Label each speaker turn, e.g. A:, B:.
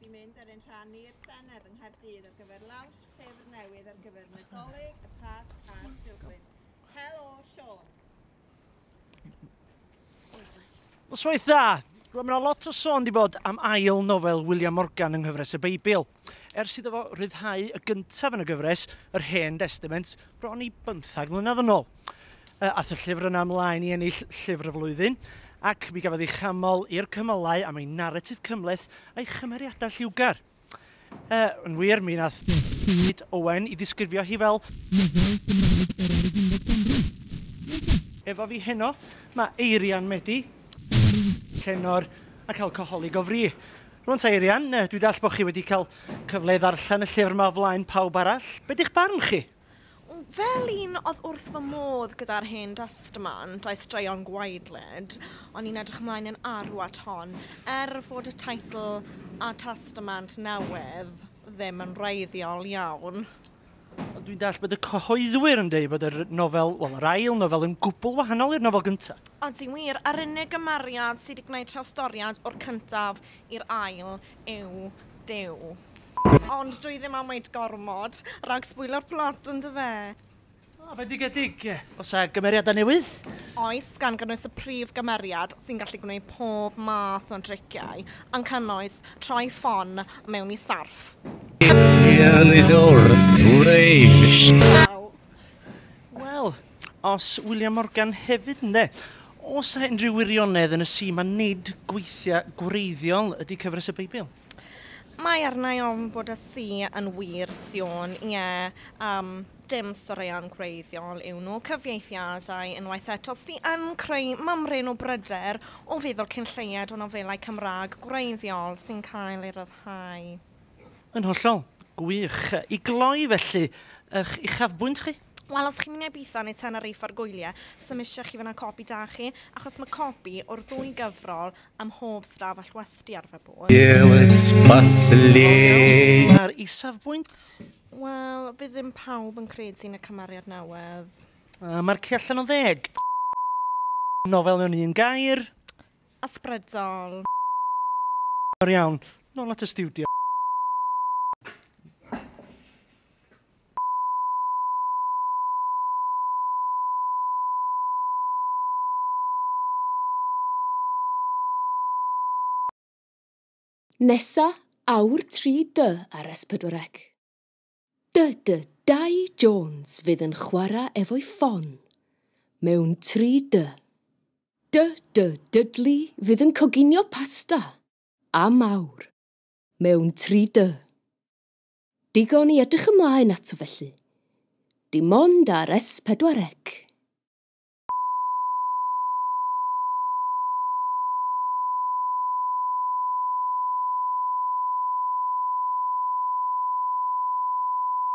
A: wedi mynd ar ein rhan ni i'r Senedd yng Nghaerdydd ar gyfer lawns llyfr
B: newydd ar gyfer Nadolig, y Pasg a'r Silfryn. Helo, Sean! Noswaith dda! Rwy'n mynd lot o sôn di bod am ail nofel William Morgan yng nghyfres y Beibl. Ers iddo fo ryddhau y gyntaf yn y gyfres, yr Hen Destament, bron i bymthag mlynedd yn ôl. Yy, ath y llyfr yna ymlaen i ennill Llyfr y Flwyddyn, ac mi gafodd ei chamol i'r cymylau am ei naratif cymhleth a'i chymeriadau lliwgar. Yy, yn wir, mi nath David Owen 'i ddisgrifio hi fel nofel Gymraeg gorau'r ugeinfed ganrif. Wrth i. Efo fi heno, ma' Eirian Medi, arwr llenor ac alcoholig o fri. Rŵan ta Eirian, yy, dwi dallt bo' chi wedi cael cyfle i ddarllen y llyfr 'ma o flaen pawb arall, be' di'ch barn chi? Fel
C: un oedd wrth fy modd gyda'r hen destament a'i straeon gwaedlyd, o'n i'n edrych ymlaen yn arw at hon, er fod y teitl A Testament Newydd ddim yn wreiddiol iawn. Ond dwi'n
B: dallt bod y cyhoeddwyr yn dweud bod y nofel, wel, yr ail nofel yn gwbl wahanol i'r nofel gyntaf. Ydy wir, yr
C: unig gymeriad sydd wedi gwneud trawstoriad o'r cyntaf i'r ail yw Duw. Ond dwi ddim am weud gormod, rhag sbwylio'r plot yndyfe? O, bendigedig!
B: Oes 'na gymeriadau newydd? Oes, gan
C: gynnwys y prif gymeriad sy'n gallu gwneud pob math o driciau, yn cynnwys troi ffon mewn i sarff. Wel,
B: Os William Morgan hefyd ynde. Oes a unrhyw wirionedd yn y si mae nid gweithiau gwreiddiol ydy cyfres y Beibl? Mae
C: arnau ofn bod y si yn wir, Siôn, ie, um, dim storeuon gwreiddiol yw nhw, cyfieithiadau unwaith eto sy yn creu mymryn o bryder o feddwl cyn lleied o nofelau Cymraeg gwreiddiol sy'n cael ei ryddhau. Yn
B: hollol. Gwych. I gloi felly, ych uchafbwynt chi? Wel, os chi'n mynd i Ibiza
C: neu Tenerife ar gwyliau, so mae eisiau chi fyna copi da chi, achos mae copi o'r ddwy gyfrol am hob straf all wethdu ar fy bod. Mae'r
B: isafbwynt? Wel,
C: bydd ddim pawb yn credu yn y cymariad newydd. Uh, Mae'r ci
B: allan o ddeg. Nofel mewn un gair. Ysbrydol. O'r iawn, nôl at y studio.
D: Nesa awr 3 dy ar S4C. Dy dy Dai Jones fydd yn chwara efo'i ffon mewn 3 dy. Dy dy Dudley fydd yn coginio pasta, am awr, mewn 3 dy. Digon i edrych ymlaen ato felly. Dim ond ar S4C.